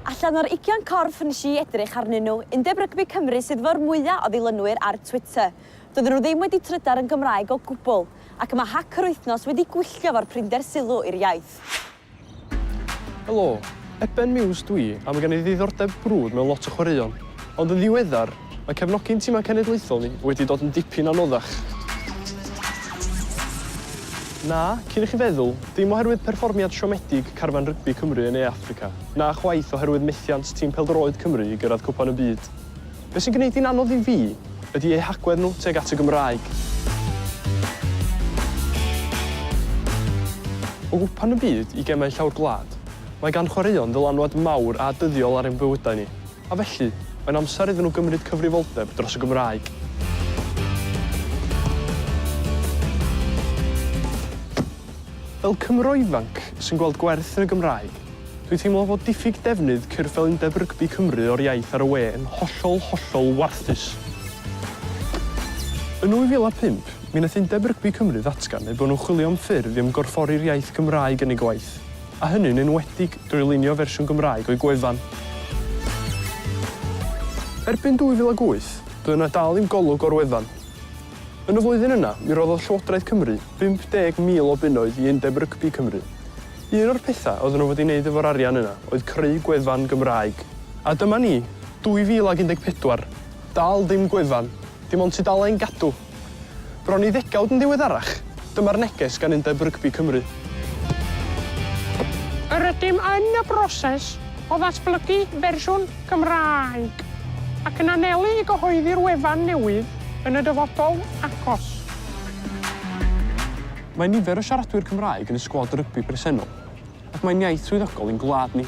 Allan o'r ugian corff wnes i edrych arnyn nhw, Undeb Rygbi Cymru sydd fo'r mwya' o ddilynwyr ar Twitter. Doedden nhw ddim wedi trydar yn Gymraeg o gwbl, ac mae hac yr wythnos wedi gwylltio fo'r prinder sylw i'r iaith. Helo, Eben Muse dw i a mae gen i ddiddordeb brwd mewn lot o chwaraeon, ond yn ddiweddar, Mae cefnogi'n timau cenedlaethol ni wedi dod yn dipyn anoddach. Na, cyn i chi feddwl, dim oherwydd perfformiad siomedig carfan rygbi Cymru yn Ne Affrica, na chwaith oherwydd methiant tîm pêl-droed Cymru i gyrraedd Cwpan y Byd. Be sy'n gwneud hi'n anodd i fi ydi eu hagwedd nhw tuag at y Gymraeg. O Gwpan y Byd i gemau llawr gwlad, mae gan chwaraeon ddylanwad mawr a dyddiol ar ein bywydau ni. A felly, mae'n amser iddyn nhw gymryd cyfrifoldeb dros y Gymraeg. Fel Cymro ifanc sy'n gweld gwerth yn y Gymraeg, dwi'n teimlo fod diffyg defnydd cyrff fel Undeb Rygbi Cymru o'r iaith ar y we yn hollol, hollol warthus. Yn 2005, mi wnaeth Undeb Rygbi Cymru ddatgan eu bod nhw'n chwilio am ffyrdd i ymgorffori'r iaith Gymraeg yn eu gwaith. a hynny'n enwedig drwy lunio fersiwn Gymraeg o'i gwefan. Erbyn 2008, doedd yna dal ddim golwg o'r wefan. Yn y flwyddyn yna, mi roddodd Llywodraeth Cymru 50,000 o bunnoedd i Undeb Rygbi Cymru. Un o'r pethau oedden nhw wedi wneud efo'r arian yna oedd creu gwefan Gymraeg. A dyma ni, 2014, dal ddim gwefan, dim ond tudalen Gadw! Bron i ddegawd yn ddiweddarach, dyma'r neges gan Undeb Rygbi Cymru. Yr ydym yn y broses o ddatblygu fersiwn Gymraeg ac yn anelu i gyhoeddi'r wefan newydd yn y dyfodol agos. Mae nifer o siaradwyr Cymraeg yn y sgwad rygbi presennol ac mae'n iaith swyddogol i'n gwlad ni.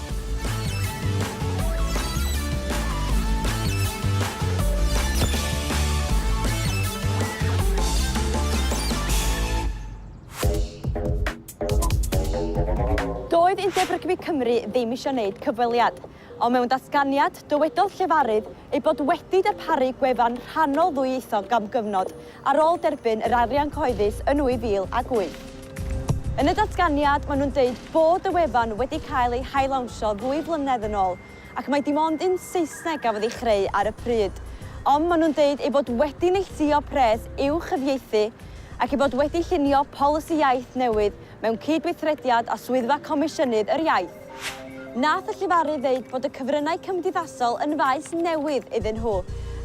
Doedd Undeb Rygbi Cymru ddim eisiau wneud cyfweliad, ond mewn datganiad, dywedodd llefarydd eu bod wedi darparu gwefan rhannol ddwyieithog am gyfnod ar ôl derbyn yr arian cyhoeddus yn 2008. Yn y datganiad, maen nhw'n deud bod y wefan wedi cael ei hail-lawnsio ddwy flynedd yn ôl ac mai dim ond un Saesneg gafodd ei chreu ar y pryd. Ond maen nhw'n deud eu bod wedi neilltuo pres i'w chyfieithu ac eu bod wedi llunio polisi iaith newydd mewn cydweithrediad â Swyddfa Comisiynydd yr Iaith. Nath y llefarydd ddeud bod y cyfryngau cymdeithasol yn faes newydd iddyn nhw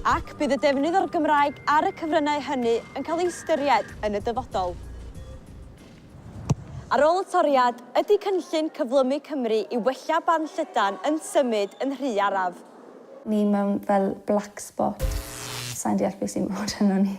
ac bydd y defnydd o'r Gymraeg ar y cyfryngau hynny yn cael ei ystyried yn y dyfodol. Ar ôl y toriad, ydy cynllun Cyflymu Cymru i wella barn llydan yn symud yn rhy araf? Ni mewn fel black spot. Sai'n deall be sy'n bod arnon ni.